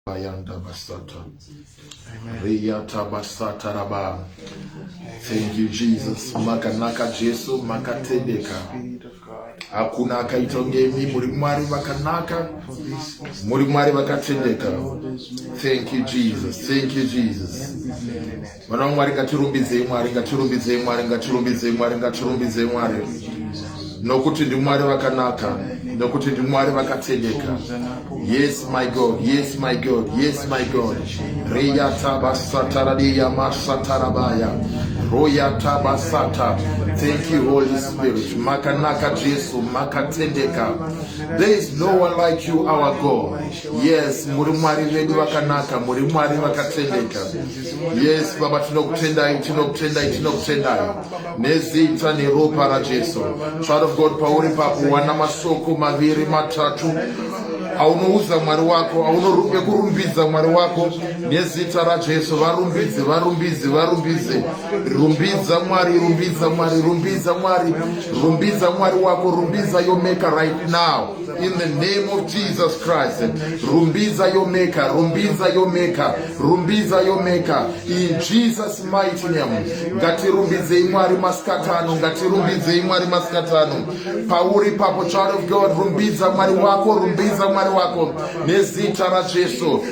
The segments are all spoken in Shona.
Bayanda Basata. Reyata Basata Raba. Thank you Jesus. Makanaka Jesu makatendeka. Hakuna akaita ngemi muri Mwari vakanaka. Muri Mwari vakatendeka. Thank you Jesus. Thank you Jesus. Mwana waMwari ngatirumbidzei Mwari ngatirumbidzei Mwari ngatirumbidzei Mwari ngatirumbidzei Mwari nokuti ndiMwari vakanaka nokuti ndiMwari vakatendeka yes my God yes my God yes my God reya tabasatara reya masatarabaya roya tabasata thank you Holy Spirit makanaka Jesu makatendeka there is no one like you our God yes muri Mwari vedu vakanaka muri Mwari vakatendeka Yes, Baba, tinokutendai, tinokutendai, tinokutendai. Nezita neropa raJesu. Child of God, pauri papo wana masoko maviri matatu aunoudza mwari wako aunorumbe kurumbidza mwari wako nezita rajesu varumbidze varumbidze varumbidze rumbidza mwari rumbidza mwari rumbidza mwari rumbidza mwari wako rumbidza yomeka right now In the name of Jesus Christ, Rumbiza your maker, Rumbiza your maker, Rumbiza your maker. In Jesus mighty name. Ngatirumbidzei Mwari masikatano, ngatirumbidzei Mwari masikatano. Pauri papo child of God, rumbidza Mwari wako, rumbidza Mwari wako nezita raJesu.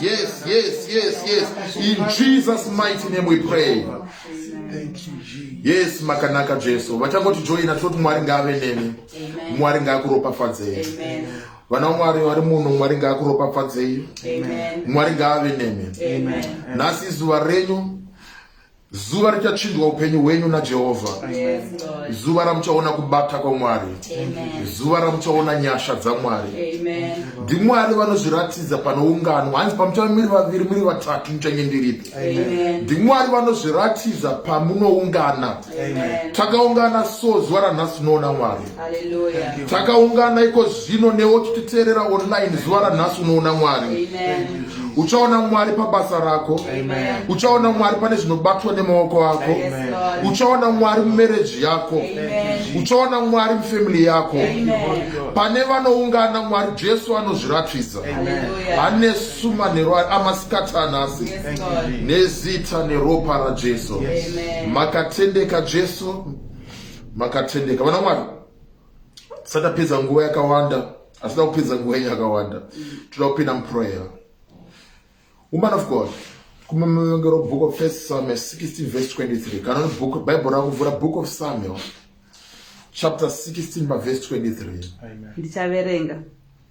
Yes, yes, yes, yes. In Jesus' mighty name we pray. Yes, makanaka Jesu. Vachangoti joina toti Mwari ngaave nemi. Mwari ngaakuropafadzei. Vana Mwari vari muno Mwari ngaakuropafadzei. Mwari ngaave nemi. Nhasi izuva renyu zuva richachinjwa upenyu hwenyu najehovha zuva ramuchaona kubata kwamwari zuva ramuchaona nyasha dzamwari ndimwari vanozviratidza panoungano hanzi pamuchava miri vaviri muri vatatu muchange ndiripi ndimwari vanozviratidza pamunoungana takaungana so zuva ranhasi unoona mwari takaungana iko zvino newe uchititeerera online zuva ranhasi unoona mwari uchaona mwari pabasa rako uchaona mwari pane zvinobatwa nemaoko ako uchaona mwari mumereji yako uchaona mwari mufamily yako pane vanoungana mwari jesu anozviratidza ane suma nerwari amasikati anhasi nezita neropa rajesu makatendeka jesu makatendeka vana mwari tisati tapedza nguva yakawanda asida kupedza nguva yenyu yakawanda toda kupinda muprayer woman of god kumamavengero book of first samuel 16 verse 23 kana ni book bible rakuvhura book of samuel chapter 16 paverse 23 ndichaverenga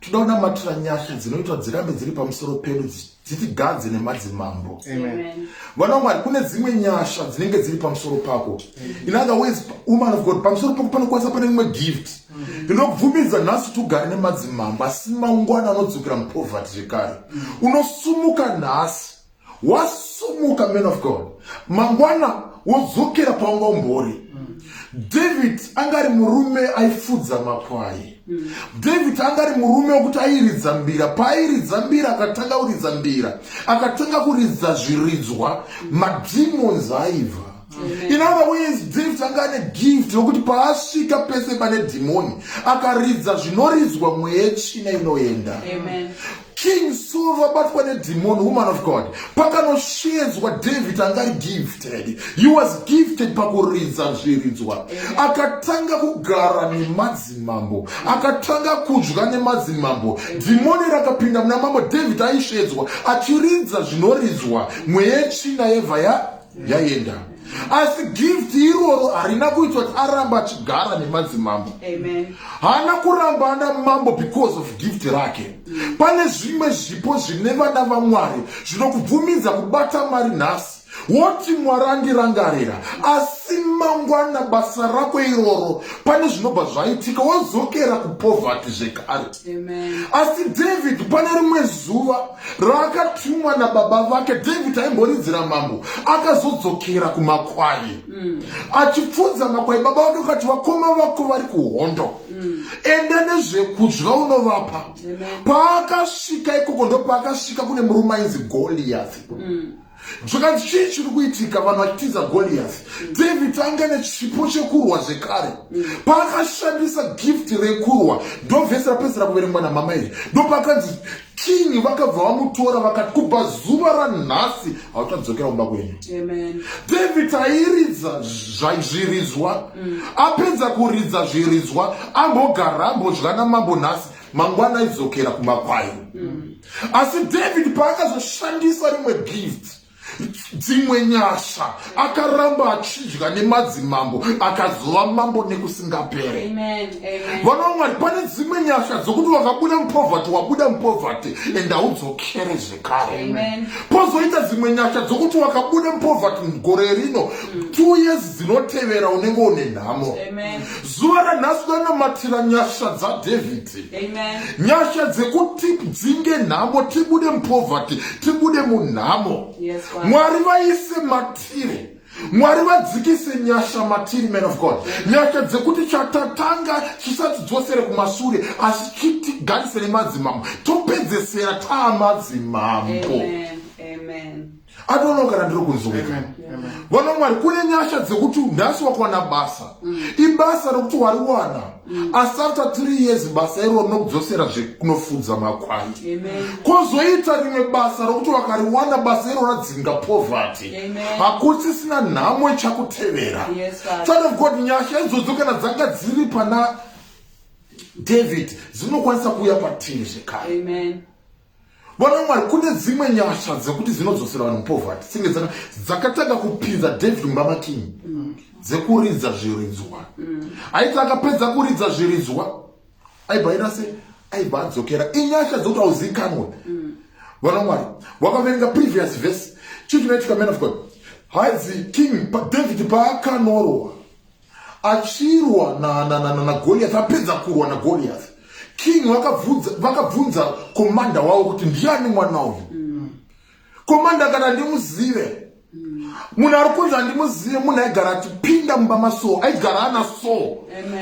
tinoda kunamatira nyasha dzinoitwa dzirambe dziri pamusoro pedu dzitigadze nemadzimambo vana mwari kune dzimwe nyasha dzinenge dziri pamusoro pako in other ways woman of god pamusoro pako panokwanisa pane imwe gift mm-hmm. ndinobvumidza nhasi tugare nemadzimambo asi mangwana anodzokera mupoverty zvekare mm-hmm. unosumuka nhasi wasumuka man of god mangwana wodzokera paunga umbori david anga ari murume aifudza makwai david anga ari murume wekuti airidza mbira paairidza mbira akatanga kuridza mbira akatanga kuridza zviridzwa mademons aiva in other ways david anga ane gift yokuti paasvika pese pane dhimoni akaridza zvinoridzwa mweya china inoenda King Saul vabatwa nedhimoni woman of God pakanosheedzwa David anga ari gifted he was gifted pakuridza zviridzwa akatanga kugara nemadzimambo akatanga kudya nemadzimambo dhimoni rakapinda muna mambo David aisheedzwa achiridza zvinoridzwa mweya yetsvina yevha ya yaenda asi gift iroro harina kuitwa kuti aramba achigara nemadzimambo haana kuramba ana mambo because of gift rake pane zvimwe zvipo zvine vana vamwari zvinokubvumidza kubata mari nhasi woti mwari andirangarira asi mangwana basa rako iroro pane zvinobva zvaitika wozokera kupovhati zvekare asi david pane rimwe zuva raakatumwa nababa vake david aimboridzira mambo akazodzokera kumakwai mm. achipfudza makwai baba vake ukati vakoma vako vari kuhondo mm. enda nezvekudya unovapa paakasvika ikoko ndopaakasvika kune murume ainzi goliathi mm. zvakanzi chii chiri kuitika vanhu vachitiza goliath david anga ane chipo chekurwa zvekare paakashandisa gift rekurwa ndovhesi rapedzera kuverengwa namama iri ndopakanzi kingi vakabva vamutora vakati kubva zuva ranhasi hauchadzokera kumba kwenyu david airidza zviridzwa mm. apedza kuridza zviridzwa ambogara ambodya namambo nhasi mangwana aidzokera kumakwai mm. asi david paakazoshandisa rimwe gift dzimwe nyasha akaramba achidya nemadzimambo akazova mambo nekusingapere vana vamwari pane dzimwe nyasha dzokuti vakabuda mupovhati wabuda mupovhati and haudzokere zvekare pozoita dzimwe nyasha dzokuti wakabuda mupovhati mugore rino two years dzinotevera unenge une nhamo zuva ranhasi ndanomatira nyasha dzadhavhidhi nyasha dzekuti dzinge nhamo tibude mupoverty tibude munhamo mwari vaise matire mwari vadzikise nyasha matiri man of god nyasha dzekuti chatatanga chisatidzosere kumasure asi chitigarise nemadzimambo topedzesera taamadzimambo Amen. Amen. anoona kana ndiri kunzwika vana mwari kune nyasha dzekuti nhasi wakawana basa mm. ibasa rekuti wariwana mm. asi after three years basa iro rinokudzosera zvekunofudza makwai kozoita rimwe basa rokuti wakariwana basa iro radzinga poverty hakusisina nhamo ichakutevera child of god nyasha idzodzo kana dzanga dziri pana david dzinokwanisa kuuya patiri zvekare Vana Mwari, kune dzimwe nyasha dzekuti dzinodzosera vanhu mupovati senge dzaka dzakatanga kupinza David mumba makinyi mm. dzekuridza zviridzwa mm. aiti akapedza kuridza zviridzwa aibva aita se aibva adzokera inyasha dzekuti auzikanwe mm. vana Mwari wakaverenga previous verse chii chinoitika man of God hanzi king David paakanorwa achirwa na, na, na, na, na goliath apedza kurwa na goliath king vakabvunza vakabvunza komanda wavo kuti ndiani mwana uyu mm. komanda kana ndimuzive munhu ari kunzi handimuzive munhu aigara atipinda mumba masoo aigara ana soo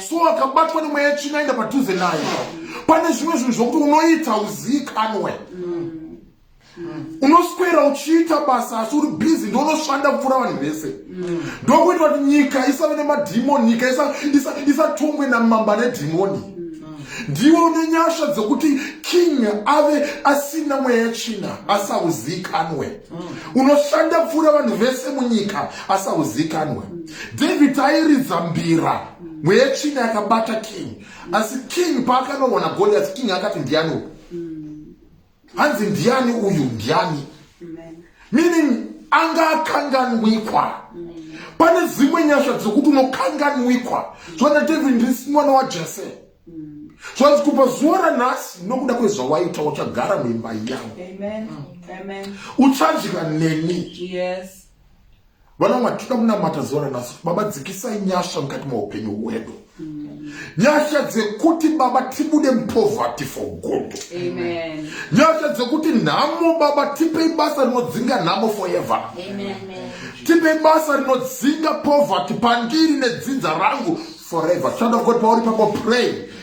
so akabatwa nemweya china aenda padhuze naye pane zvimwe zvinhu zvokuti unoita uziikanwe mm. unoswera uchiita basa asi uri busy ndounoshanda kupfuura vanhu vese ndokuita kuti nyika isave nemadhimoni nyika isatongwe namamba nedhimoni ndiwo une nyasha dzekuti king ave asina mweya yechina asauzikanwe unoshanda kupfuura vanhu vese munyika asauzikanwe david airidza mbira mweya yechina yakabata king asi king paakanoona goliath king akati ndiani uku hanzi ndiani uyu ndiani meaning anga akanganwikwa pane zimwe nyasha dzokuti unokanganwikwa zvana david ndisi mwana wajese zvanzi kubva zuva ranhasi nokuda kwezvawaita uchagara muimba yangu uchadya neni Vana mwari tinoda kunamata zuva ranasi baba dzikisai nyasha mukati meupenyu hwedu nyasha dzekuti baba tibude mupoverty for good nyasha dzekuti nhamo baba tipei basa rinodzinga nhamo forever tipei basa rinodzinga poverty pandiri nedzinza rangu forever child of god pauri pako pray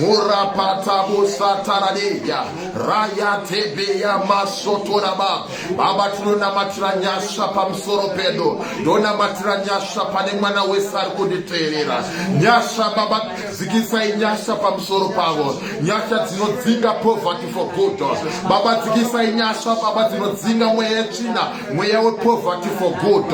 murapatabo sataradeya rayatebeya masotoraba baba tinonamatira nyasha pamusoro pedu ndonamatira nyasha pane mwana wese ari kunditeerera nyasha baba dzikisai nyasha pamusoro pavo nyasha dzinodzinga poverty for good baba dzikisai nyasha baba dzinodzinga mweya yetsvina mweya wepoverty for good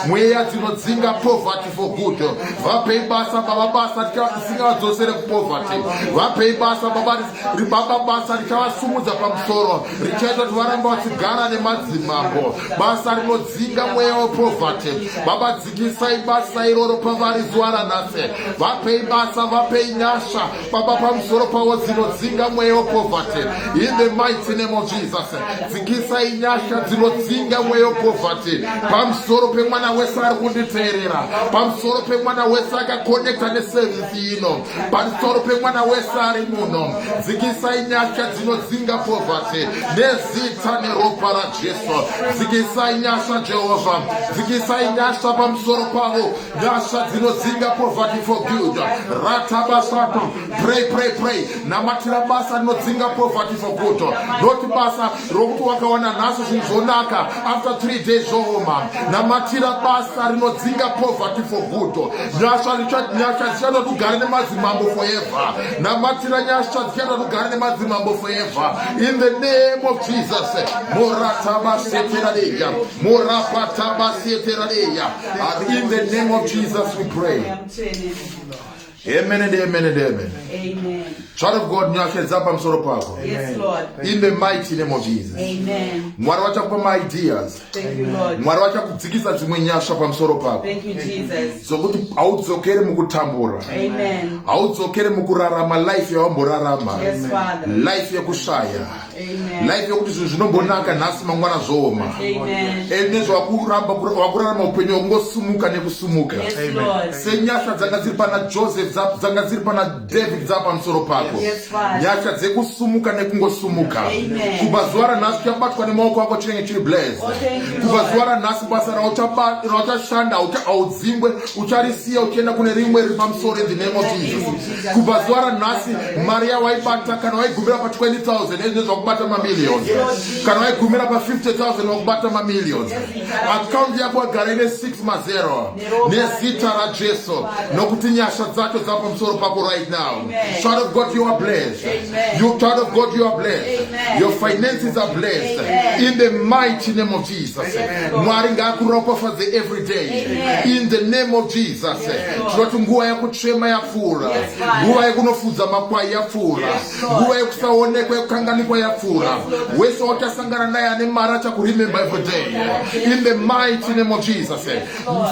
mweya dzinodzinga poverty for good vapei basa baba basa tisingavadzosere kupoverty vapei basa baba ribaba basa richavasumudza pamusoro richaita kuti varamba vachigara nemadzimambo basa rinodzinga mweya wepoverty baba dzikisai basa iroro pavari zuva ranhasi vapei basa vapei nyasha Baba, pamusoro pavo dzinodzinga mweya wepoverty in the mighty name of Jesus. Dzikisai nyasha dzinodzinga mweya wepoverty pamusoro pemwana wese ari kunditeerera, pamusoro pemwana wese akakonekta neservisi ino, pamusoro pemwana wese ari muno. Dzikisai nyasha dzinodzinga poverty nezita neropa raJesu. Dzikisai nyasha Jehovha, dzikisai nyasha pamusoro pavo. Nyasha dzinodzinga poverty for good. Rata basato. Pray, pray, pray. Namatira basa rinodzinga poverty for good. Not basa rokuti wakawana nhasi zvinhu zvonaka after three days zvooma. Namatira basa rinodzinga poverty for good. Nyasha nyasha dzichada kugara nemadzimambo forever. Namatira nyasha dzichada kugara nemadzimambo forever. In the name of Jesus. Morata basetera deya. Morapata basetera deya. But in the name of Jesus we pray. Amen and amen and amen. Amen. Child of God, nyashedza pamusoro pako. Yes, Lord. In the mighty name of Jesus. Amen. Mwari vachakupa maideas. Thank you, Lord. Mwari vachakudzikisa dzimwe nyasha pamusoro pako. Thank you, Jesus. Zokuti haudzokere mukutambura. Amen. Haudzokere mukurarama life yawamborarama. Yes, Father. Life yekushaya. life yokuti zvinhu zvinombonaka nhasi mangwana zvooma and nezvo wakuramba wakurarama upenyu wakungosimuka nekusumuka senyasha dzanga dziri pana joseph dzanga dziri pana david dza pamusoro pako nyasha dzekusumuka nekungosumuka kubva zuva ranhasi uchabatwa nemaoko ako chinenge chiri blaz oh, kubva zuva ranhasi basa rauchashanda haudzingwe ucharisiya uchienda kune rimwe riri pamusoro in the name of jesus kubva zuva ranhasi mari yawaibata kana waigumira pa 20000 ezvinezvi vakubata mamillions kana waigumira pa 50000 vakubata mamillions akaundi yako agara ine 6 mazero nezita rajesu nokuti nyasha dzacho dzava pamusoro pako right now child of god you are blessed you child of god you are blessed your finances are blessed in the mighty name of Jesus. Mwari ngakuropafadze every day in the name of Jesus. Tinoti nguva yekuchema yapfuura, nguva yekunofudza makwai yapfuura, nguva yekusaonekwa yekukanganikwa yapfuura. Wese watasangana naye ane mari achakuremember every day in the mighty name of Jesus.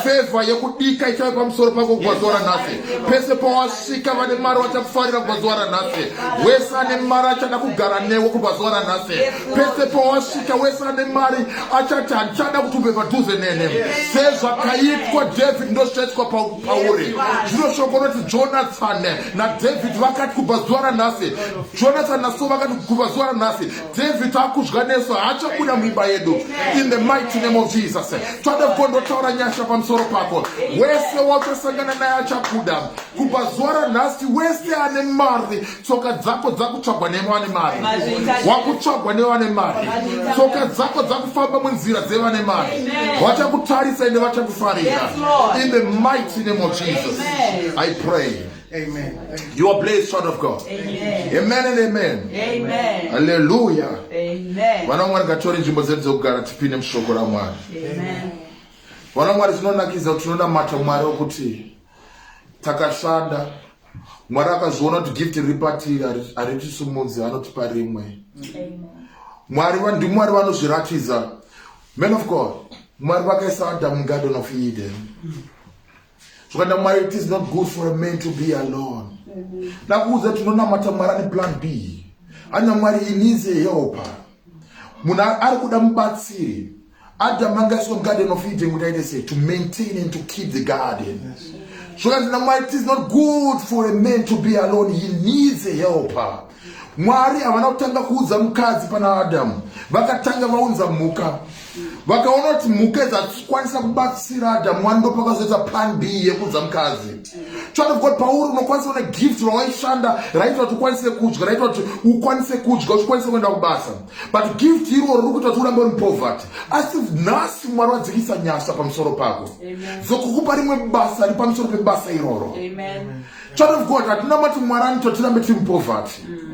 Favor yekudika ichave pamusoro pako gwazuva ranhasi. Pese pawasvika vane mari vachakufarira gwazuva ranhasi. Wese ane mari achada kugara newe kubva zuva ranhasi. pese pawasvika wese ane mari achati handichada kuti ubve padhuze nene sezvakaitwa david ndozvichaitwa pauri zvino shoko roti jonathan nadavid vakati kubva zuva ranhasi jonathan naso vakati kubva zuva ranhasi david akudya nesu haachabuda muimba yedu in the mighty name of jesus toda kukondotaura nyasha pamusoro pako wese wachasangana naye achabuda kubva zuva ranhasi wese ane mari tsoka dzako dzakutsvagwa nevane mari wakutsvagwa nevane mari tsoka dzako dzakufamba munzira dzevane mari vachakutarisa ende vachakufarira in the mighty name of jesus i pray Amen. You are blessed, child of God. Amen. Amen and amen. Amen. Hallelujah. Amen. Vanamwari ngatori nzvimbo dzedu dzekugara tipinde mushoko raMwari. Amen. Vanamwari zvinonakidza kuti tinonamata Mwari wokuti takashanda mwari akazviona kuti gift riri patiri haritisimudzi anotipa rimwe mwari ndimwari vanozviratidza man of god mwari vakaisa adam garden of eden zvokanda mwari it is not good for a man to be alone ndakuudza tinonamata mwari ane plan b hanya mwari he needs a helper munhu ari kuda mubatsiri Adam angaiswa garden of Eden kuti aite sei to maintain and to keep the garden. Zvokanzi naMwari it is not good for a man to be alone he needs a helper. Mwari havana kutanga kuudza mukadzi pana Adam vakatanga vaunza mhuka vakaona kuti mhuka dzakwanisa kubatsira Adam mwari ndopakazoita plan B yekuudza mukadzi. Child of God pauri unokwanisa kuona gift rawaishanda raitwa kuti ukwanise kudya raitwa kuti ukwanise kudya uchikwanisa kuenda kubasa. but gift irwo riri kuita kuti urambe uri poverty asi nhasi mwari wadzikisa nyasha pamusoro pako dzokukupa rimwe basa ri pamusoro pebasa iroro child of god hatina mati mwari anoita tirambe tiri mupoverty mm.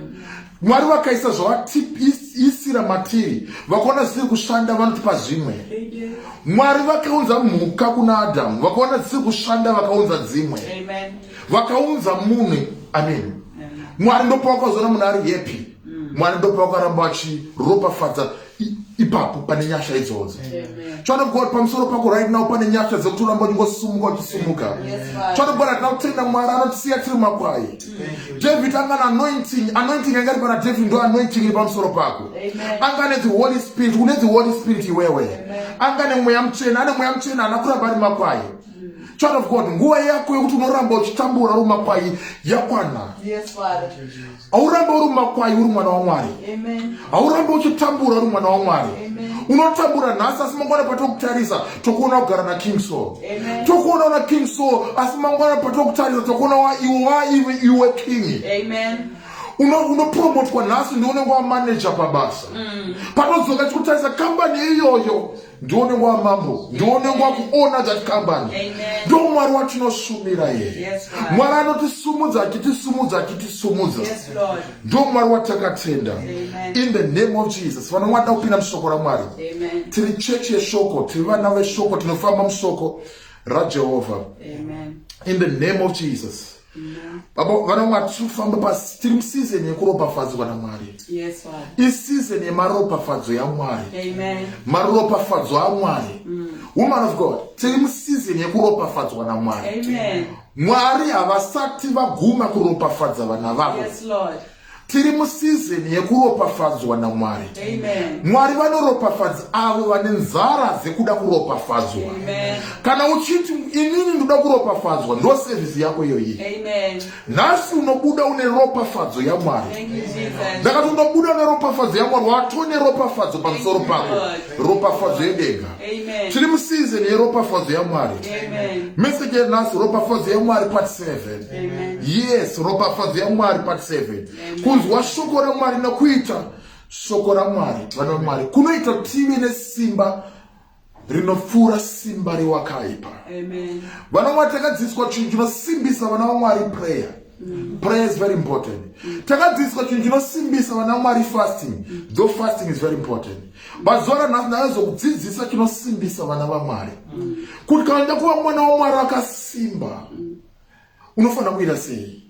mwari vakaisa zvavatiisira matiri vakaona zvisiri kushanda vanotipa zvimwe mwari vakaunza mhuka kuna adamu vakaona dzisiri kushanda vakaunza dzimwe vakaunza munhu amen mwari ndopawakazoona munhu ari happy mwari ndopa vakaramba vachiropafadza ipapo pane nyasha idzodzo chwana god pamusoro pako right now pane nyasha dzekuti uramba uchingosumuka uchisumuka chwana god hatina kutenda mwari anotisiya tiri makwai david angana anointing anointing yanga iri pana david ndo anointing iri pamusoro pako anga ne the holy spirit une the holy spirit iwewe anga ne mweya muchena ane mweya muchena ana kuramba ari makwai child of god nguva yako yekuti unoramba uchitambura rumakwai yakwana yes, haurambe uri mumakwai uri mwana wamwari haurambe uchitambura uri mwana wamwari unotambura nhasi asi mangwana patokutarisa tokuona kugara naking so tokuona una king so asi mangwana patokutarisa tokuona waiwe waive iwe king unopromotwa nhasi ndiunenge wamanaja pabasa mm. panodzoka chikutarisa kambani iyoyo ndione nguva mambo ndione nguva kuona that company ndo mwari watinoshumira here mwari anotisumudza achitisumudza achitisumudza ndo mwari watakatenda in the name of jesus vana mwada kupinda mushoko ramwari tiri chechi yeshoko tiri vana veshoko tinofamba mushoko rajehovha in the name of jesus baba vana mwari tiri kufamba pasi tiri musizeni yekuropafadzwa namwari isizon yemaropafadzo yamwari maropafadzo amwari mm. woman of god tiri musizeni yekuropafadzwa namwari mwari havasati vaguma kuropafadza vana vavo Tiri musizini yekuropafadzwa naMwari. Mwari vanoropafadza avo vane nzara dzekuda kuropafadzwa. Kana uchiti inini ndoda kuropafadzwa, ndo sevhisi yako iyoyi. Nhasi unobuda une ropafadzo yaMwari. Ndakati unobuda une ropafadzo yaMwari, watone ropafadzo pamusoro pako, ropafadzo yedenga. Tiri musizini yeropafadzo yaMwari. Meseji yanhasi, ropafadzo yaMwari part 7. yes ropafadzo yamwari part 7 kunzwa shoko ramwari nokuita shoko ramwari vana vamwari kunoita tive nesimba rinopfuura simba rewakaipa vana vamwari takadzidziswa chinhu chinosimbisa vana vamwari prayer mm. prayer is very important mm. takadzidziswa chinhu chinosimbisa vana vamwari fasting mm. though fasting is very important mazuva ranhasi ndakazokudzidzisa chinosimbisa vana vamwari kuti kana ndakuva mwana wamwari akasimba unofanira kuita sei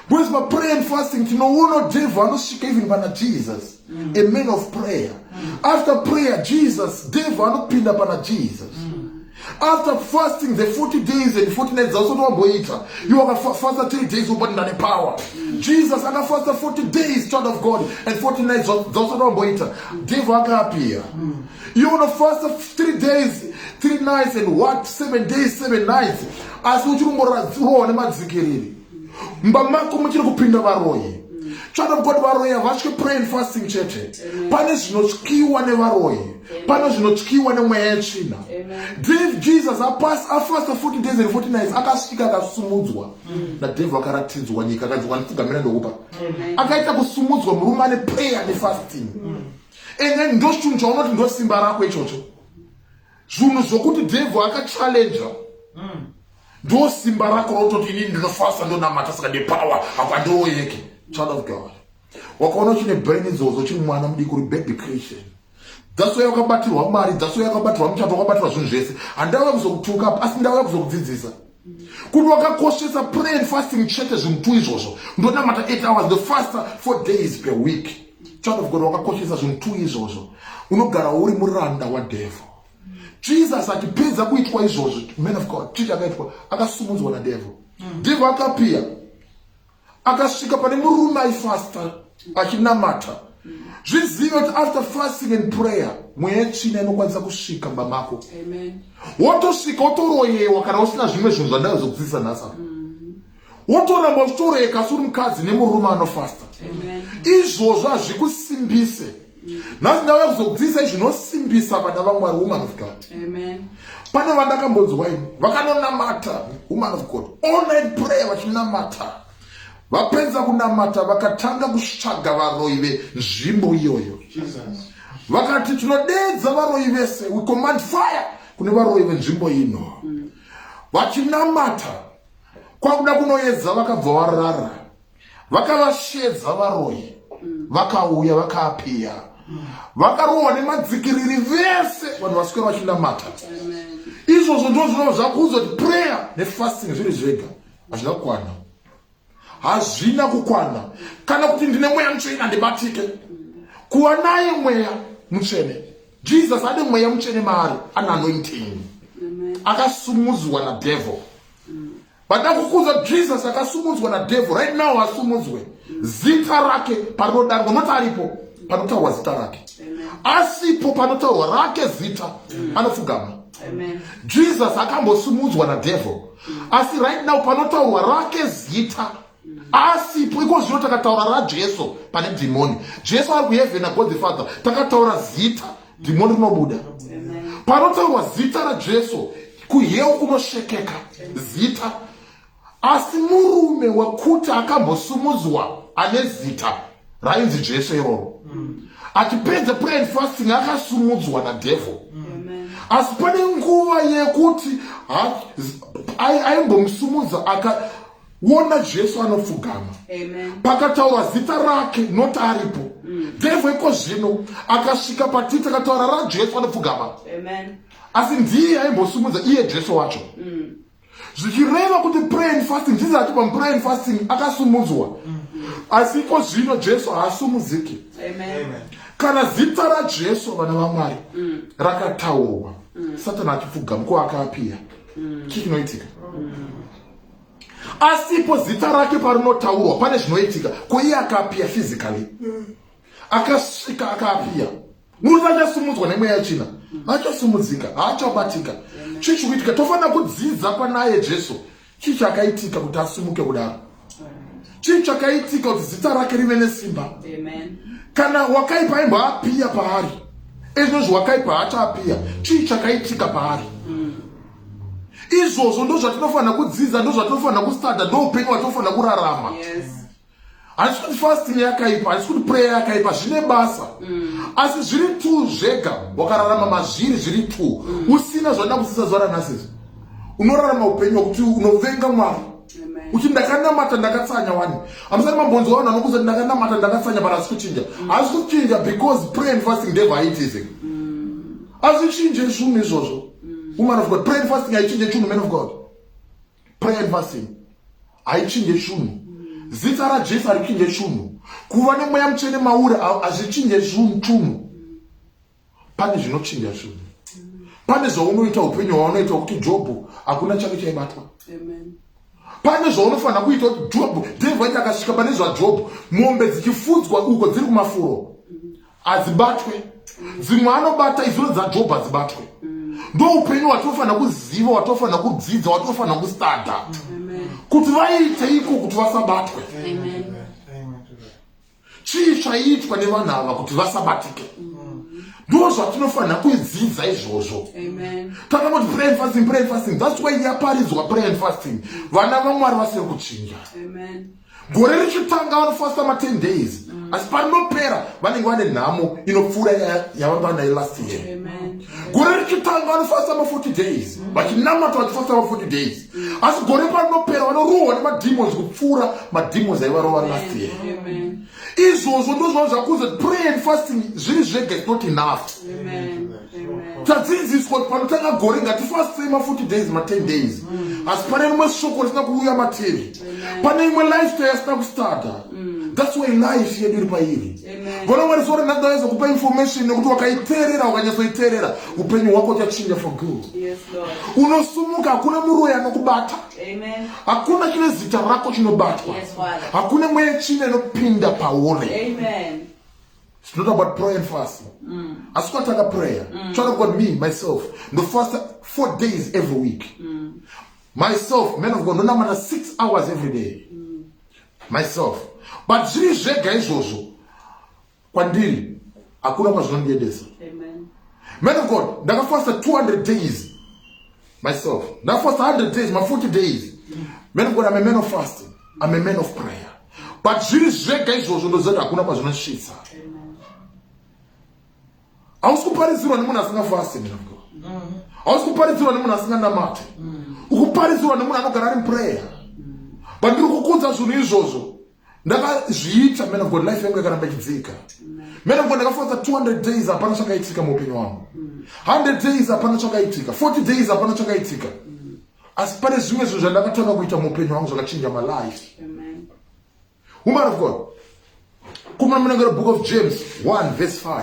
because ma prayer and fasting tinoona devil anosvika even pana jesus mm. a man of prayer mm. after prayer jesus devil anopinda pana jesus mm. after fasting the 40 days and 40 nights zausati wamboita you wakafasta 3 days ubati ndane power mm. jesus akafasta 40 days child of god and 40 nights zausati wamboita mm. devil akapia mm. you wanna fast 3 days 3 nights and what 7 days 7 nights asi uchiri kungoradzurwa nemadzikiriri mba mako muchiri kupinda varoyi tsvada kukoti varoyi havatye pray and fasting chete pane zvinotyiwa nevaroyi pane zvinotyiwa nemweya yetsvina dave jesus apas afasta 40 days and 40 nights akasvika akasumudzwa mm. nadevhu akaratidzwa nyika akanzi wandipfugamira ndokupa akaita kusumudzwa murume ane prayer nefasting mm. and then ndochinhu chaunoti ndosimba rako ichocho zvinhu zvokuti devil akachallenja mm. ndo simba rako rototi inini ndinofasa ndonamata saka nepower apa ndiroyeke child of god wakaona uchine brain idzodzo chiri mwana mudiki uri baby christian dzaso yakabatirwa mari dzaso yakabatirwa muchato wakabatirwa zvinhu zvese handauya kuzokutuka asi ndauya kuzokudzidzisa kuti wakakoshesa prayer and fasting chete zvinhu two izvozvo ndonamata 8 hours the faster four days per week child of god wakakoshesa zvinhu two izvozvo unogara uri muranda wadevil jesus atipedza kuitwa izvozvo man of god chii chakaitwa akasumudzwa nadevil mm. devil akapiya akasvika pane murume aifasta achinamata zvizive kuti after fasting and prayer mweya yetsvina inokwanisa kusvika mba mako wotosvika wotoroyewa kana usina zvimwe zvinhu zvandazokudzidzisa nhasa mm-hmm. wotoramba uchitoroyeka asi uri mukadzi nemurume anofasta izvozvo hazvikusimbise nhasi ndauya kuzokudzidzisai zvinosimbisa vana vamwari woman of god pane vandakambonzwa ini vakanonamata woman of god all night prayer vachinamata vapedza kunamata vakatanga kutsvaga varoyi venzvimbo iyoyo vakati tinodeedza varoyi vese we command fire kune varoyi venzvimbo ino vachinamata kwakuda kunoedza vakabva varara vakavashedza varoyi mm. vakauya vakaapiya mm. vakarohwa nemadzikiriri vese vanhu vaswera vachinamata izvozvo ndo zvinova zvakuuza kuti prayer nefasting zviri zvega hazvina kukwana hazvina kukwana kana kuti ndine mweya mutsvene handibatike kuva naye mweya mutsvene jesus ane mweya mutsvene maari ane anointing akasumudzwa nadevil But nakukuza Jesus akasumudzwa na devil right now asumudzwe zita rake panodanwa not aripo panotaurwa zita rake asipo panotaurwa rake zita anofugama Jesus akambosumudzwa na devil asi right now panotaurwa rake zita asipo iko zvino takataura rajesu pane dhimoni jesu ari kuhevhena god the father takataura zita dhimoni rinobuda panotaurwa zita rajesu kuheu kunoshekeka zita asi murume wekuti akambosumudzwa ane zita rainzi jesu iroro achipedza prayer and fasting akasumudzwa nadevil asi pane nguva yekuti aimbomusumudza wona jesu anopfugama pakataura zita rake not aripo mm. devhu iko zvino akasvika patiti akataura rajesu anopfugama asi ndiye aimbosumudza iye jesu wacho mm. zvichireva kuti prayin fasting jesus ati pamuprayin fasting akasumudzwa mm. asi iko zvino jesu haasumudziki kana zita rajesu vana vamwari mm. rakataurwa mm. satani achipfugama ko akaapiya mm. chii chinoitika asipo zita rake parinotaurwa pane zvinoitika ko iye akapiya physically mm. akasvika akapiya murume achasumudzwa nemweya yechina achasumudzika haachabatika chii chikuitika tofanira kudzidza panaye jesu chii chakaitika kuti asumuke kudaro chii chakaitika kuti zita rake rive nesimba kana wakaipa aimboapiya paari ezvinozvi wakaipa haachapiya chii chakaitika paari mm. izvozvo ndo zvatinofanira kudzidza ndo zvatinofanira kustada ndo upenyu watinofanira kurarama handisi kuti fasting yakaipa handisi kuti prayer yakaipa zvine basa mm. asi zviri t zvega wakararama mazviri zviri t mm. usina zvandida kudzidza zuva ranhasisi unorarama upenyu wakuti unovenga mwari uti ndakanamata ndakatsanya wani hamusati mambonzi wavanhu vanokuza ndakanamata ndakatsanya but asi kuchinja mm. asi kuchinja because pray and fasting ndevaitising mm. azvichinje zvunhu izvozvo mm. woman of god pray and fasting haichinje chunhu man of god pray and fasting haichinje chunhu mm. zita rajesu harichinje chunhu kuva nemweya mutsvene mauri hazvichinje zvunhu chunhu mm. pane zvinochinja zvunhu pane zvaunoita upenyu hwaunoita kuti jobho hakuna chake chaibatwa pane zvaunofanira kuita kuti jobho dhevaiti akasvika pane zvajobho mombe dzichifudzwa uko dziri kumafuro hadzibatwe dzimwe anobata izvino dzajob hadzibatwe ndoupenyu watofanira kuziva watofanira kudzidza watofanira kustada kuti vaite iko kuti vasabatwe chii chaiitwa nevanhu ava kuti vasabatike ndo zvatinofanira kuidzidza izvozvo kana kuti pray and fasting pray and fasting that's why yaparidzwa pray and fasting vana vamwari vasiri kuchinja gore richitanga vanofasta ma10 days mm. asi parinopera vanenge vane nhamo inopfuura yavanga vanayo last year gore richitanga vanofasta ma40 days mm. vachinamata vachifasta ma40 days mm. asi gore parinopera vanorohwa nemademons kupfuura mademons aivarova last year izvozvo ndozvava zvakuza pray and fasting zviri zvega is not enough tadzidziswa kuti panotanga gore ngatifastei ma40 days ma10 days mm. asi pane rimwe shoko risina kuuya materi pane imwe lifestyle asina kustarta mm. thats why life yedu iri pairi vona mwari sore ndadaiza kupa information nekuti wakaiteerera wakanyatsoiteerera upenyu hwako uchachinja for good unosumuka hakuna muroyi anokubata hakuna chine zita rako chinobatwa hakuna mweya chine inopinda pauri It's not about prayer and fast. Mm. As what I prayer. Mm. Try to God me, myself. The first four days every week. Mm. Myself, men of God, no number six hours every day. Mm. Myself. But zviri zvega izvozvo kwandiri hakuna kwazvinondiendesa man of god ndakafasta 200 days myself ndakafasta 100 days ma 40 days man of god i'm a man of fasting i'm a man of prayer but zviri zvega izvozvo ndoziva kuti hakuna kwazvinosvitsa hausi kuparidzirwa nemunhu asingafasti man of god mm-hmm. hausi kuparidzirwa nemunhu asinganamate mm. ukuparidzirwa nemunhu anogara ari muprayer but ndiri kukudza zvinhu izvozvo ndakazviita man of god life yangu yakaramba ichidzika man of god ndakafonza 200 days hapana chakaitika muupenyu wangu 100 days hapana chakaitika 40 days hapana chakaitika asi pane zvimwe zvinhu zvandakatanga kuita muupenyu wangu zvakachinja malife woman of god kumana munangiro book of james 1 verse 5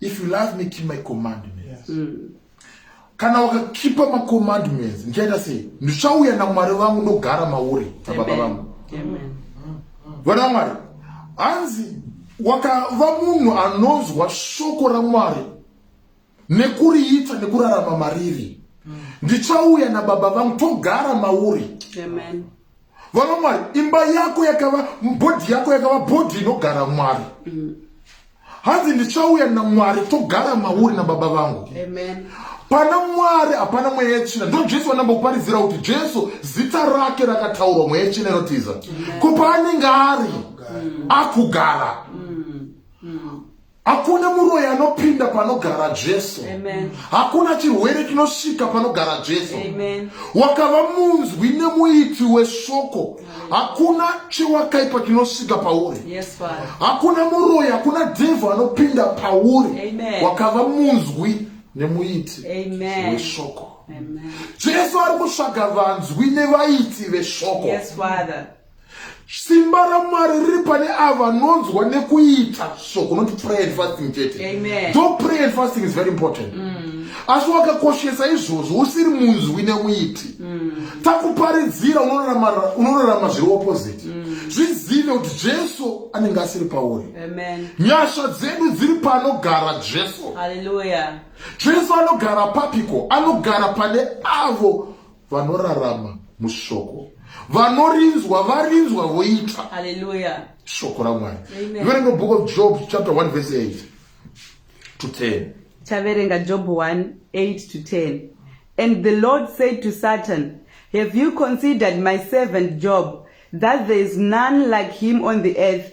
if you love me keep my commandments yes. mm. kana wakakipa macommandments ndichaita sei ndichauya namwari vangu ndogara mauri nababa vangu vana mwari hanzi wakava munhu anonzwa shoko ramwari nekuriita nekurarama mariri mm. ndichauya nababa vangu togara mauri Amen. vana mwari imba yako yakava bhodhi yako yakava bhodhi inogara mwari mm. hanzi ndichauya namwari togara mauri nababa vangu pana mwari hapana mweya yetsvina ndo jesu vanambokuparidzira kuti jesu zita rake rakataurwa mweya yetsvina inotiza ko paanenge ari akugara mm. Mm. Hakuna muroyi anopinda panogara Jesu. Hakuna chirwere chinosvika panogara Jesu. Wakava munzwi nemuiti weshoko. Hakuna chewakaipa chinosvika pauri. Hakuna muroyi, hakuna devil anopinda pauri. Wakava munzwi nemuiti weshoko. Jesu ari kutsvaga vanzwi nevaiti veshoko. simba ramwari riri pane ava vanonzwa nekuita so kunoti prayer and fasting chete tho prayer and fasting is very important mm. asi wakakoshesa izvozvo usiri munzwi nekuiti mm. takuparidzira unorarama zviri opposite mm. zvizive kuti jesu anenge asiri pauri nyasha dzedu dziri panogara jesu jesu anogara papiko anogara pane avo vanorarama mushoko vanorinzwa varinzwa voita haleluya shoko ramwari verenga book of job chapter 1 verse 8 to 10 taverenga job 1 8 to 10 and the lord said to satan have you considered my servant job that there is none like him on the earth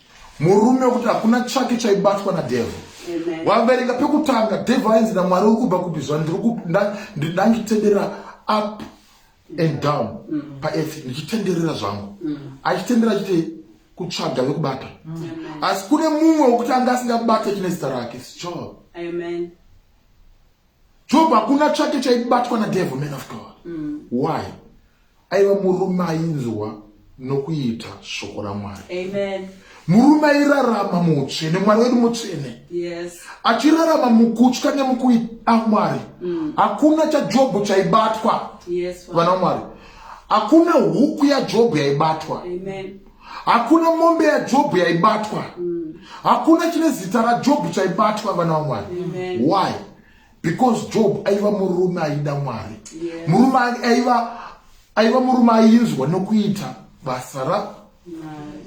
murume wekuti hakuna chake chaibatwa nadevil waverenga pekutanga devil ainzi namwari uri kubva kupi zva ndanditendera up and down mm. paearth ndichitenderera zvangu mm. achitenderera chite kutsvaga vekubata mm. asi kune mumwe wekuti anga asingabate chine zita rake sichoo job hakuna chake chaibatwa nadevil man of god why aiva murume ainzwa nokuita shoko ramwari murume airarama muutsvene mwari wedu mutsvene achirarama mukutya nemukuida mwari mm. hakuna chajobho chaibatwa vana mwari hakuna huku yajobho yaibatwa hakuna mombe yajobho yaibatwa mm. hakuna chine zita rajobho chaibatwa vana vamwari why because job aiva murume aida mwari yes. murume aiva aiva murume ainzwa nokuita basa ra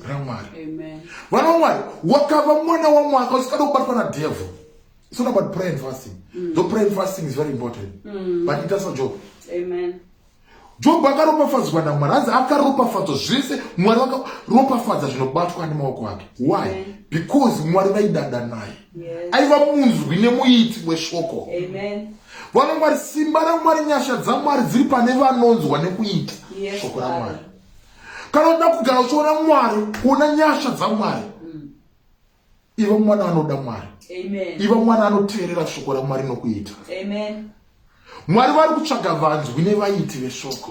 ramwari vana vamwari wakava mwana wamwaka usikada kubatwa nadevil it's not about prayer and fasting mm. though prayer and fasting is very important mm. but ita sajob Jobho akaropafadzwa naMwari, hanzi akaropafadzwa zvese. Mwari vakaropafadza zvinobatwa nemaoko ake. Why? Because Mwari vaidada naye, aiva munzwi nemuiti weshoko. Vanongwari simba raMwari, nyasha dzaMwari dziri pane vanonzwa nekuita shoko raMwari. Kana uda kugara uchiona Mwari, kuona nyasha dzaMwari iva mwana anoda mwari iva mwana anoteerera shoko ramwari nokuita mwari vari kutsvaga vanzwi nevaiti veshoko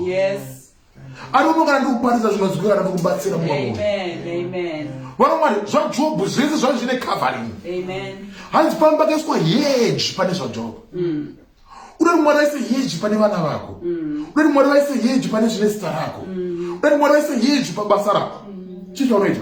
ariuno kana ndi kuparidza zvinonzwika kana ndikubatsira mumwe vanomwari zvajobhu zvese zvai zvine covering hanzi pamba kaiswa heji pane zvajobhu mm. uda kuti mwari vaise heji pane vana vako mm. uda kuti mwari vaise heji pane zvine zita rako mm. uda kuti mwari vaise heji pabasa rako chii chaunoita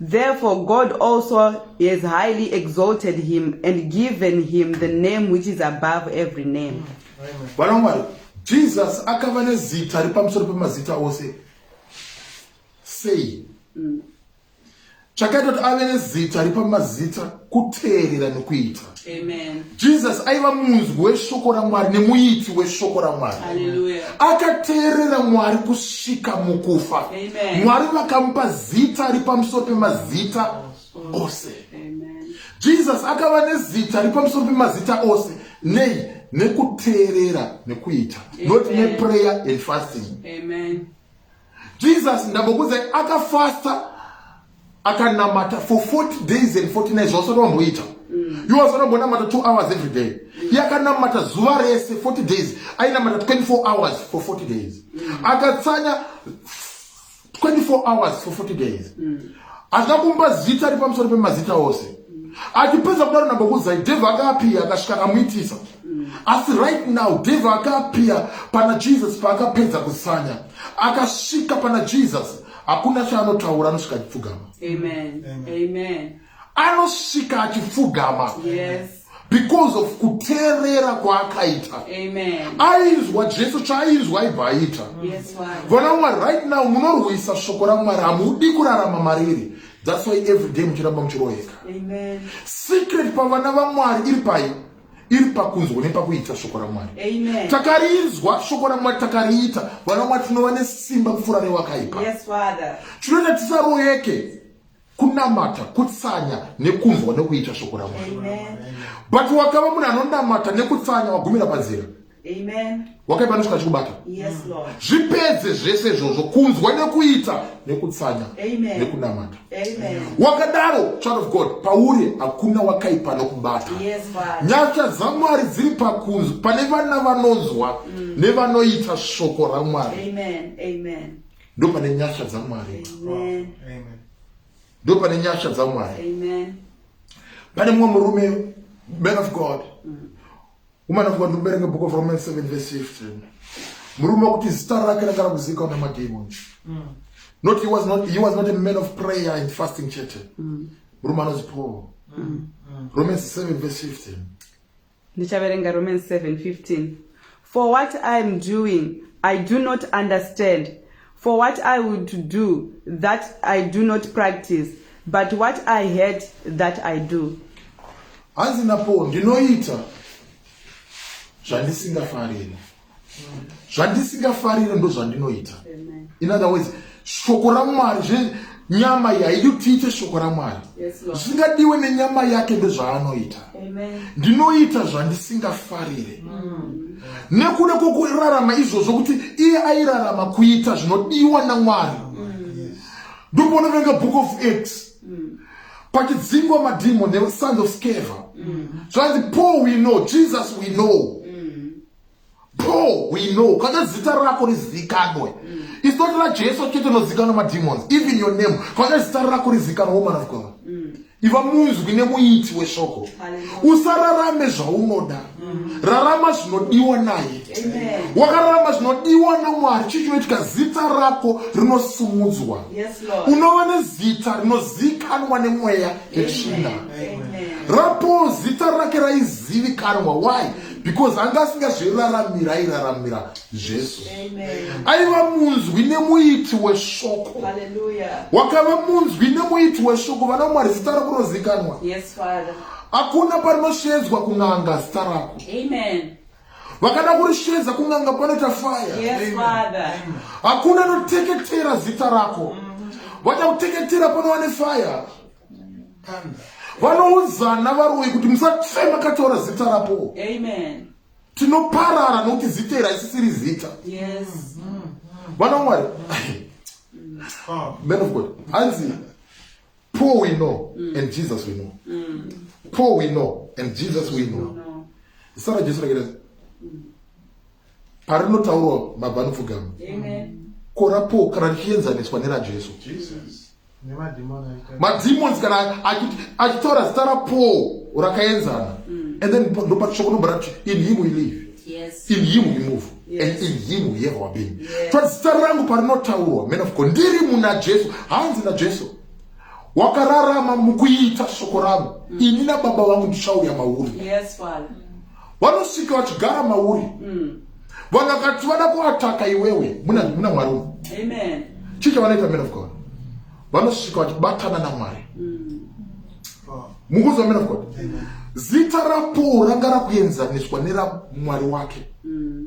Therefore God also has highly exalted him and given him the name which is above every name. Vana Mwari, Jesus akava nezita ripamusoro pemazita ose. Sei? Mm. Chakaita kuti ave nezita ripamazita kuteerera nokuita jesus aiva munzwi weshoko ramwari nemuiti weshoko ramwari akateerera mwari kusvika mukufa mwari vakamupa zita ari pamusoro pemazita ose jesus akava nezita ari pamusoro pemazita ose nei nekuteerera nekuita not neprayer and fasting Amen. Jesus ndambokuudzai akafasta akanamata for 40 days and 40 nights zvawasati wamboita mm. iwe wasati wambonamata 2 hours every day mm. iye akanamata zuva rese 40 days ainamata 24 hours for 40 days mm. akatsanya 24 hours for 40 days hazvina kumba zita ri pamusoro pemazita ose achipedza kudaro nambokuudzai devha akapiya akasvika akamuitisa mm. asi right now devil akaapia pana jesus paakapedza kusanya akasvika pana jesus hakuna chaanotaura anosvika achipfugama amen amen anosvika achipfugama yes because of kuteerera kwaakaita ainzwa jesu chaainzwa aibva aita vana mwari right now munorwisa shoko ramwari hamudi kurarama mariri that's why every day muchiramba muchiroyeka secret pavana vamwari iri pai iri pakunzwa nepakuita shoko ramwari takarinzwa shoko ramwari takariita vana vamwari tinova nesimba kupfuura rewakaipa tinoita tisaroyeke kunamata kutsanya nekunzwa nekuita shoko ramwari but wakava munhu anonamata nekutsanya wagumira panzira wakaipa anosvika achikubata zvipedze zvese izvozvo kunzwa nekuita nekutsanya nekunamata wakadaro child of god pauri hakuna wakaipa anokubata nyasha dzamwari dziri pakunzwa pane vana vanonzwa mm. nevanoita shoko ramwari ndo pane nyasha dzamwari ndo pane nyasha dzamwari pane mumwe murume man of god mm. Woman of God, look book of Romans 7 verse 15. Murume kuti zita rake rakara kuzika una mademon. Mm. Not he was not he was not a man of prayer and fasting chete. Mm. Murume anonzi Paul. Mm. Mm. Romans 7 verse 15. Ndichaverenga Romans 7:15. For what I am doing I do not understand. for what i would do that i do not practice but what i had that i do hanzi napo ndinoita zvandisingafarire zvandisingafarire ndozvandinoita in other words shoko ramwari nyama yaiyo tiite shoko ramwari zvisingadiwe yes, nenyama yake ndezvaanoita ndinoita zvandisingafarire mm. nekuda kwokurarama izvozvo kuti iye airarama kuita zvinodiwa namwari mm. ndokuonoverenga book of acts mm. pachidzingwa madhimo nesons of scava mm. zvanzi paul we know jesus we know mm. bro we know kana zita rako rizikanwe mm. it's not la jesu chete unozikanwa mademons even your name kana zita rako rizikanwa woman of god mm. iva munzwi nemuiti weshoko usararame zvaunoda mm. rarama zvinodiwa naye wakararama zvinodiwa namwari chii chinoitika zita rako rinosumudzwa unova nezita rinozikanwa nemweya yetsvina rapo zita rake raizivikanwa why because anga asingazviraramira airaramira jesu aiva munzwi nemuiti weshoko wakava munzwi nemuiti weshoko vana mwari zita rakunozikanwa hakuna parinosheedzwa kun'anga zita rako vakada kurishedza kun'anga panoita faya hakuna anoteketera zita rako mm. vachakuteketera panowane faya vanoudzana varoyi kuti musachema kataura zita rapo tinoparara nokuti zita iri haisisiri zita vana mwari man of god hanzi poor we know mm. and jesus we know mm. poor we know and jesus we know zita rajesu rakita mm. parinotaurwa mabva anopfugama kora poor kana richienzaniswa nerajesu mademons kana achitora zita rapaul rakaenzana mm. and then ndopatishokonombara in him we live yes. in him we move yes. and in him we have our being yes. but zita rangu parinotaurwa man of god ndiri muna jesu hanzi najesu wakararama mukuita shoko rangu mm. ini nababa vangu ndichauya mauri yes, vanosvika vachigara mauri mm. vanhu vakati vada kuataka iwewe muna muna mwari umu amen chii chavanoita men of god vanosvika vachibatana namwari mm. mukuziva men of god zita rapowo ranga rakuenzaniswa neramwari wake mm.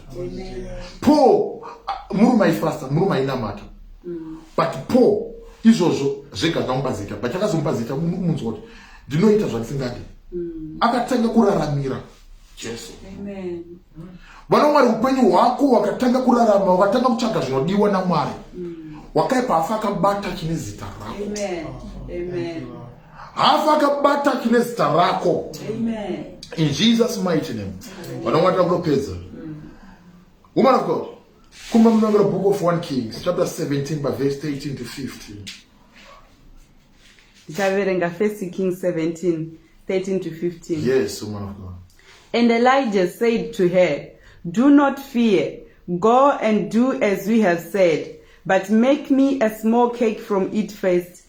paul murume aifasta murume ainamata mm. but paul izvozvo zvega zvamupa zita but akazomupa zita munzwa kuti ndinoita zvandisingadi mm. akatanga kuraramira jesu vana mwari upenyu hwako wakatanga kurarama wakatanga kutsvaga zvinodiwa namwari mm. wakaipa afa akabata chine zita rako hafa akabata kine zita rako in jesus mighty name vanongatira kunopedza woman of god kumba munongera book of one kings chapter 17 paverse 13 to 15 ndichaverenga first king 17 13 to 15 yes woman of god and elijah said to her do not fear go and do as we have said but make me a small cake from it first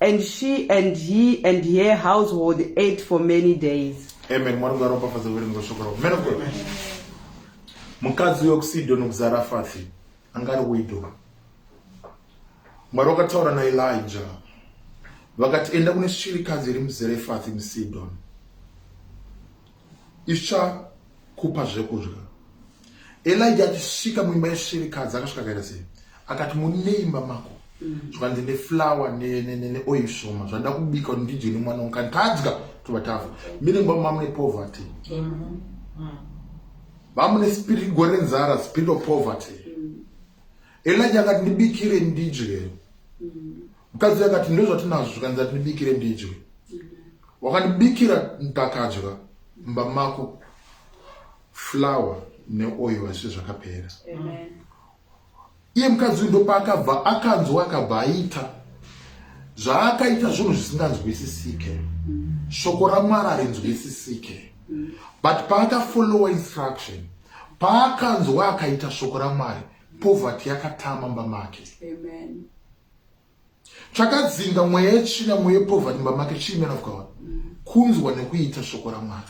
and she and he and her household ate for many days amen mwari ngaropafadze kuverenga shoko rako man of god mukadzi uyo kusidhoni kuzarafati anga ari widow mwari wakataura naelija vakati enda kune shirikadzi iri muzerefati musidhoni ichakupa zvekudya elija achisvika muimba yesvirikadzi akasvika kaita sei akati mune imba mako mm. zvikanzi neflower neoil shoma zvandida kubika kuti ndidye nemwana wangu kani tadya tova tafa mine mba mamune poverty mm-hmm. mm. vamune spirit gore nzara spirit of poverty mm. elija akati ndibikire ndidye mukadzi uyu akati ndozvatinazvo zvikanzi atindibikire ndidye wakandibikira ndakadya mba mako flower neoil hazvise zvakapera iye mukadzi uyu ndopaakabva akanzwa akabva aita zvaakaita zvinhu zvisinganzwisisike shoko ramwari harinzwisisike but paakafollowa instruction paakanzwa akaita shoko ramwari poverty yakatama mba make Amen. chakadzinga mweya yetsvina mweya yepovha nyumba make chii man of god kunzwa nekuita shoko ramwari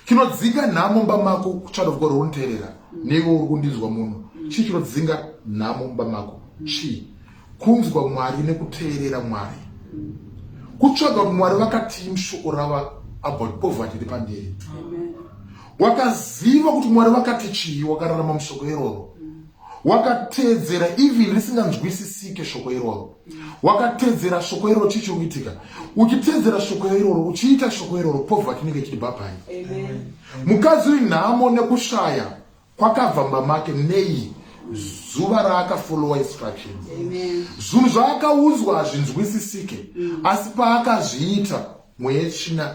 chinodzinga nhamo mumba mako child of god unteerera neivo uri kundinzwa muno chii chinodzinga nhamo mumba mako chii kunzwa mwari nekuteerera mwari kutsvaga kuti mwari vakatii mushoko rava about poverty iri pandiri wakaziva kuti mwari vakati chii wakararama mushoko iroro wakateedzera even risinganzwisisike shoko iroro wakateedzera shoko iroro chii chiri kuitika uchiteedzera shoko iroro uchiita shoko iroro poverty inenge ichiti bhabhai mukadzi uyu nhamo nekushaya kwakabva mba make nei zuva raakafolowa instruction zvinhu zvaakaudzwa hazvinzwisisike mm. asi paakazviita mweya yechina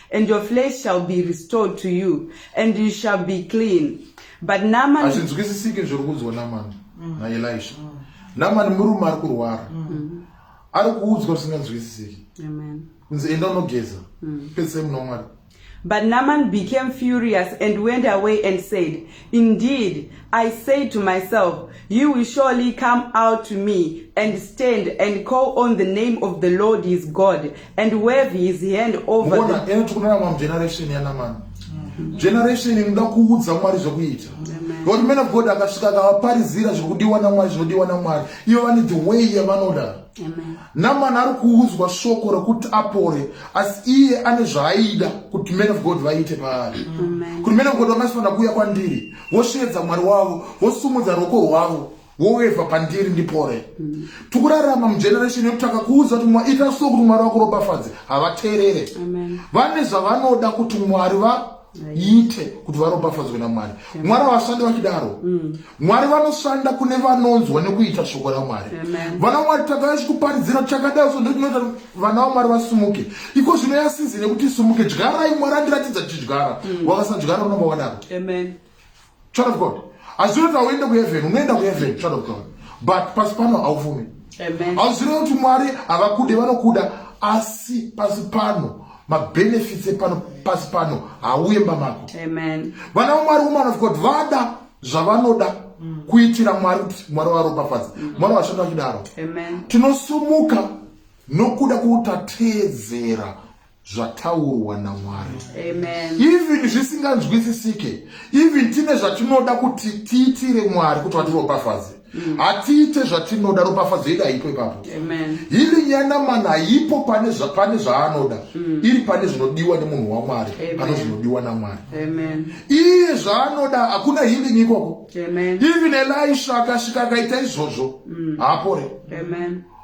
and your flesh shall be restored to you and you shall be clean but naman hazvinzwisisiki zviri kuudzwa namani mm. naelisha mm. namani murume ari kurwara mm. ari kuudzwa zvisinganzwisisiki kunzi enda unogeza pedzisai muno wamwari But Naaman became furious and went away and said, Indeed, I say to myself, You will surely come out to me and stand and call on the name of the Lord his God and wave his hand over Mona, the... Mona, generation yanaman. Mm-hmm. Generation inoda kuudza Mwari zvekuita. But men of God akasvika akavaparizira zvekudiwa naMwari zvodiwa naMwari. Ivo vane the way yavanoda. Amen. Namani ari kuudzwa shoko rekuti apore asi iye ane zvaaida kuti man of God vaite paari kuti man of God vangasifanira kuuya kwandiri vosheedza mwari wavo vosumudza ruoko rwavo woweva pandiri ndipore mm. tikurarama mugeneration yekuti takakuudza kuti ita so kuti mwari vakuropafadze havateerere vane zvavanoda kuti mwari va iite kuti varopafadzwe namwari mwari havashandi vachidaro mm. mwari vanoshanda kune vanonzwa nekuita shoko ramwari vana mwari tavai chikuparidzira chakadai so ndotinoita vana vamwari vasimuke iko zvino yasizi nekuti simuke dyarai mwari andiratidza tichidyara mm. wakasadyara unonga wadaro Child of God. Hazvirevi kuti hauende kuheaven, unoenda kuheaven, child of God. But pasi pano haufumi. Hazvirevi kuti Mwari havakude, vanokuda. Asi pasi pano, mabenefits epano pasi pano hauye mba mako. Vana vaMwari, woman of God, vada zvavanoda mm. kuitira Mwari kuti Mwari varopafadze. Mm. Mwari vashanda vachidaro. Tinosumuka nokuda kwekuti tateedzera zvataurwa namwari even zvisinganzwisisike even tine zvatinoda kuti tiitire mwari kuti vatiropafadze mm. hatiite zvatinoda ropafadzo yedu haipo ipapo hili nyanamana haipo pane zvapane zvaanoda mm. iri pane zvinodiwa nemunhu wamwari pane zvinodiwa namwari iye zvaanoda hakuna hiling ikoko even elisha akasvika akaita izvozvo mm. haapore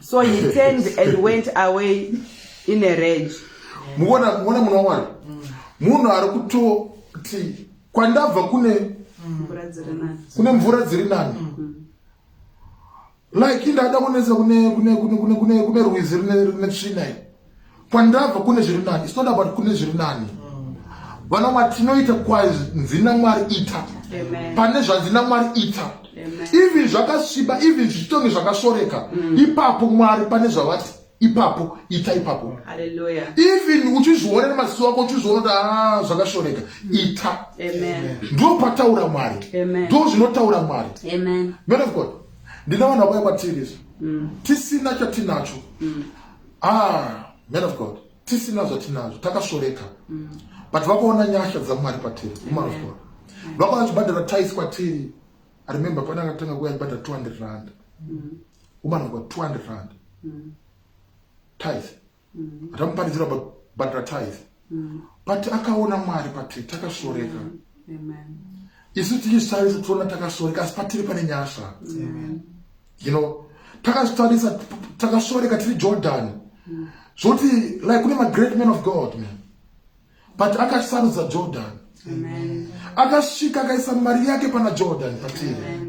so he turned and went away in a rage muona muona muna wani munhu ari kutoti kwandabva kune kune mvura dziri nani like indada kunetsa kune kune kune kune kune rwizi rine tsvina kwandabva kune zviri nani it's not about kune zviri nani vana mwari tinoita kwanzi namwari ita pane zvanzi namwari ita even zvakasviba even zvichitonge zvakashoreka mm. ipapo mwari pane zvavati ipapo ita ipapo even uchizviona nemaziso ako uchizviona kuti ah, zvakashoreka mm. ita ndo pataura mwari ndo zvinotaura mwari man of god ndina vanhu vakuya kwatiri mm. tisina chatinacho ah man of god tisina zvatinazvo takasvoreka mm. but vakuona nyasha dzamwari patiri woman of god vakaona chibhadhara tais kwatiri i remember pane akatanga kuuya chibhadhara 200 rand mm. woman of god 200 rand mm. tais atamuparidzira bhadhara tais mm. but akaona mwari pati takasoreka mm. isu tichizvitarisa tiona takasoreka asi patiri pane nyasha you know takazvitarisa takasoreka tiri jordan mm. zvoti like kune magreat man of god man but akasarudza jordan akasvika akaisa mari yake pana jordan patiri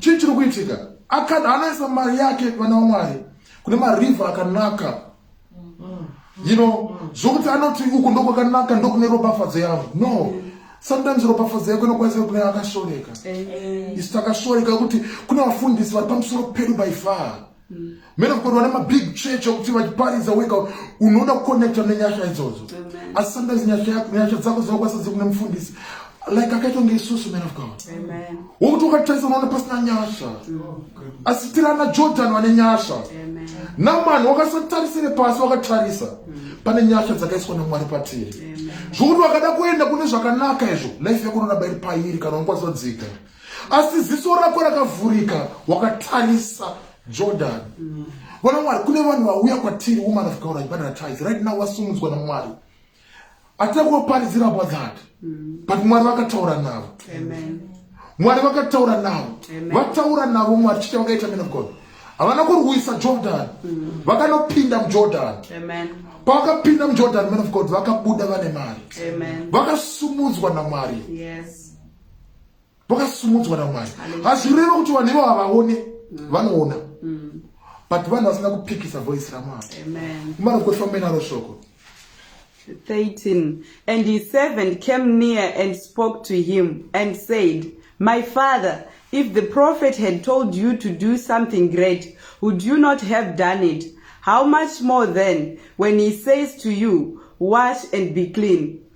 chii chiri kuitika anoisa mari yake vana wamwari kune mariver akanaka you know zvokuti anoti uku ndokwakanaka ndokune ropafadzo yavo no sometimes ropafadzo yako inokwanisa kune akashoreka isi takashoreka kuti kune vafundisi vari pamusoro pedu by far mene kukoti vane mabig church okuti vachiparidza wega unoda kuconnecta nenyasha idzodzo asi sometimes nyasha dzako dzinokwanisa dzi kune mufundisi like akaita kunge isusu man of god wokuti ukatarisa unoona pasina nyasha mm. asi tirana jordan vane nyasha namani wakasatarisire pasi wakatarisa mm. pane nyasha dzakaiswa namwari patiri zvokuti wakada kuenda kune zvakanaka izvo life yako unoda bairi pairi kana unokwanisa kudzika asi ziso rako rakavhurika wakatarisa jordan vana mwari kune vanhu vauya kwatiri woman of god achibatatise right now wasumudzwa namwari atida kuvaparidzira about that but mwari vakataura navo mwari vakataura navo vataura navo mwari chii chavakaita man of god havana kurwisa jordan mm. vakanopinda mujordan pavakapinda mujordan man of god vakabuda vane mari vakasumudzwa namwari yes. vakasumudzwa namwari hazvireve kuti vanhu ivo havaone mm. vanoona mm. but vanhu vasina kupikisa voice ramwari marokofambenaro shoko 13 and he seven came near and spoke to him and said my father if the prophet had told you to do something great would you not have done it how much more then when he says to you wash and be clean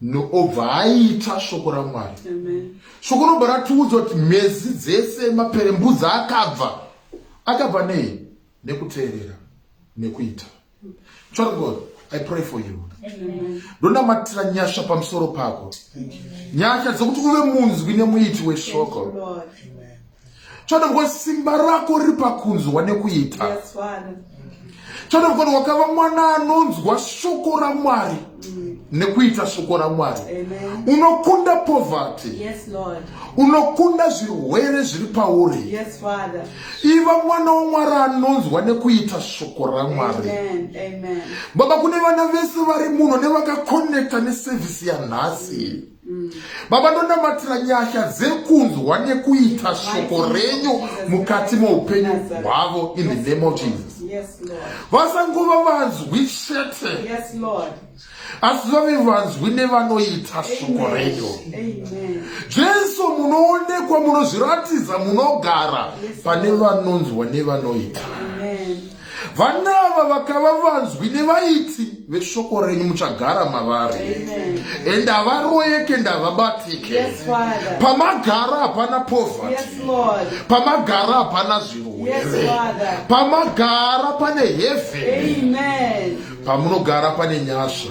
no obva aita shoko ramwari shoko robva ratiudza kuti mhezi dzese maperembudzi akabva akabva nei nekuteerera nekuita child god i pray for you ndonamatira nyasha pamusoro pako nyasha dzekuti uve munzwi nemuiti weshoko Chiona kuti simba rako riri pakunzwa nekuita. Yes, Chiona kuti wakava mwana anonzwa shoko raMwari. Mm. nekuita shoko ramwari unokunda poverty yes, unokunda zvirwere zviri pauri yes, iva mwana wamwari anonzwa nekuita shoko ramwari baba kune vana vese vari muno nevakakonekta nesevhisi yanhasi mm. Mm. Baba ndonamatira nyasha dzekunzwa nekuita shoko renyu mukati meupenyu hwavo in the name of Jesus. Vasangova vanzwi chete asi vave vanzwi nevanoita shoko renyu. Jesu munoonekwa munozviratidza munogara pane vanonzwa nevanoita. Vana ava vakava vanzwi nevaiti veshoko renyu muchagara mavari and havaroyeke ndavabatike yes, pamagara hapana poverty yes, pamagara hapana zvirwere yes, pamagara pane heaven pamunogara pane nyasha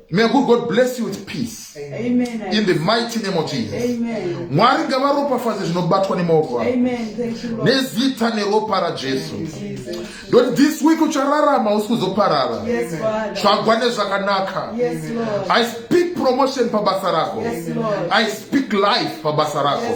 May good God bless you with peace. Amen. In the mighty name of Jesus. Amen. Mwari ngavaropafadze zvinobatwa nemaoko avo. Nezita neropa raJesu. Don't this week uchararama usi kuzoparara. Tsvagwa nezvakanaka. I speak promotion pabasa rako. I speak life pabasa rako.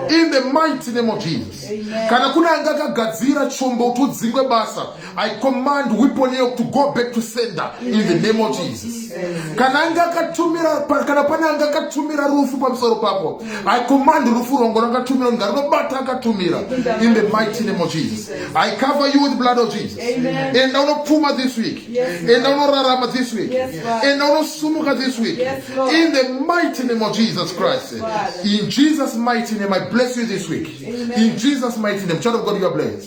In the mighty name of Jesus. Kana kuna anga akagadzira chombo kuti udzingwe basa. I command weapon yoke to go back to sender in the name of Jesus. Kana anga akatumira kana pane anga akatumira rufu pamusoro pako, I command rufu rongo rakatumira kunga rinobata akatumira in the mighty name of Jesus. I cover you with blood of Jesus. And I will puma this week. And I will rarama this week. And I will sumuka this week. In the mighty name of Jesus Christ. In Jesus mighty name I bless you this week. In Jesus mighty name. Child of God you are blessed.